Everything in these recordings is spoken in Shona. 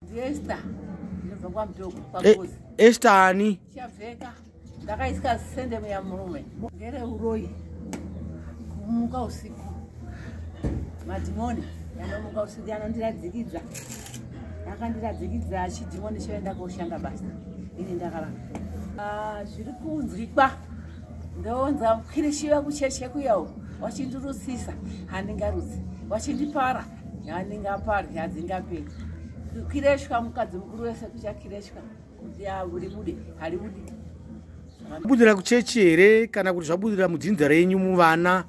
Esther ndinobva kwaMutoko kwaGozi. E, Esther ani? Chavheka ndakaisika sende muya murume. Ngere uroyi kumuka usiku madhimoni yanomuka usiku yanondiradzikidza akandiradzikidza chidhimoni choenda koshanda basa ini ndakava ah, zviri kunzwikwa ndoonza kwirishiva kucheche kuyawo wachindirusisa handingarudzi wachindipara handingaparwi hadzingaperi kireshwa mukadzi mukuru wese kuchakireshwa kuti haribude haribudi budira kuchechi here kana kuti zvabudira mudzinza renyu muvana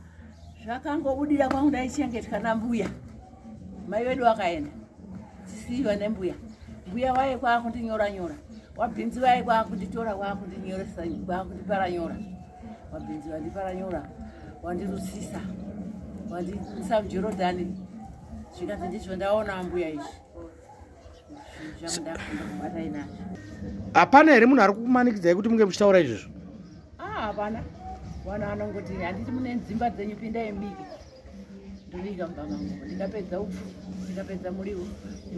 zvakangobudira kwangu ndaichengetwa nambuya mai vedu vakaenda tisiiva nembuya mbuya waye kwaakundinyoranyora wabhinzi vaye kwakunditora kwakundinyora kwakundiparanyora Mabhinzi vandiparanyura, vandirusisa, vandisa muJorodhani. Zvikanzi ndizvo ndaona ambuya izvi. Hapana here munhu ari kukumanikidzai kuti munge muchitaura izvozvo? Ah, hapana. Vanhu vanongoti handiti mune dzimba dzenyu pindai mubike. Ndobika mumba mangu. Ndikapedza upfu, ndikapedza muriwo.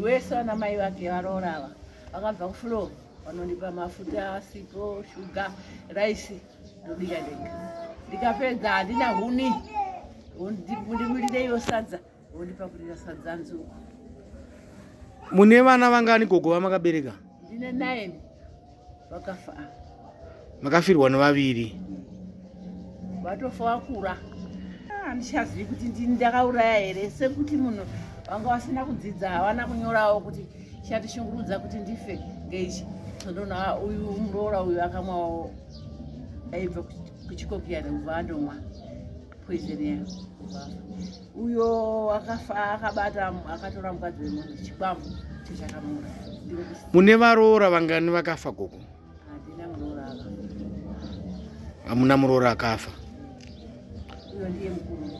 Wese ana mai vake varoora ava. Vakabva kufloor. vanonipa mafuta asipo shuga raisi ndobika ndega ndikapedza handina huni ndimurireiwo sadza vondipakurira sadza nzuku mune vana vangani gogo vamakabereka ndine nine vakafa makafirwa nevaviri vatofa vakura ah, handichazivi kuti ndini ndakauraya here sekuti munhu vanga vasina kudzidza havana kunyorawo kuti chatishungurudza kuti ndife ngeichi ndona ah, uyu muroora uyu akamwawo aibva kuchikokiya nekubva andomwa poizeni yayo uyo akafa akabata akatora mukadzi wemunhu chikwambo chechakamura mune varoora vangani vakafa gogo handina muroora aka hamuna muroora akafa uyo ndiye mukuru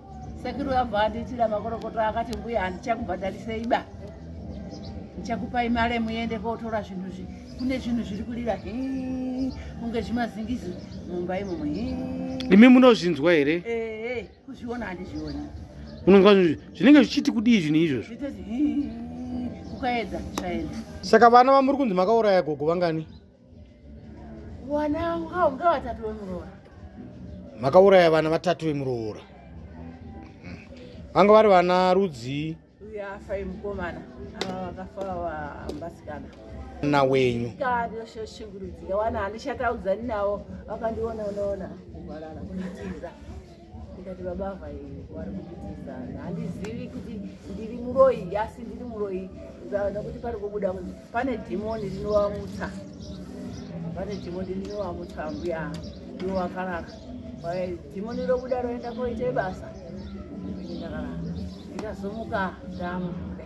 sekuru abva andiitira makorokoto akati mbuya handichakubhadharisei ba ndichakupai mare muende kotora zvinhu zvi kune zvinhu zviri kurira kunge zvimazingizi mumba imomo imi munozvinzwa here ee kuzviona handizvioni unonzwa zvinenge zvichiti kudii zvinhu izvozvo kukaedza zvaedza saka vana vamuri kunzi makauraya gogo vangani Wana ungaunga watatu wemuroora. Makauraya vana vatatu vemuroora. Hmm. Vanga vari vana rudzi. Uya afa imukomana. Ava vakafa vambasikana. Na wenyu. Kari yoshe shingurudzi. Yawana anishataudza ninawo. Vakandiona unaona. Kuvalala kunitiza. ndikati baba ava vari kunditizana handizivi kuti ndiri muroyi asi ndiri muroyi ndaona kuti pari kubuda pane dhimoni rinovamutsa pane dhimoni rinovamutsa mbuya ndiwo vakarara dhimoni robuda roenda koita basa ndikazomuka ndamuda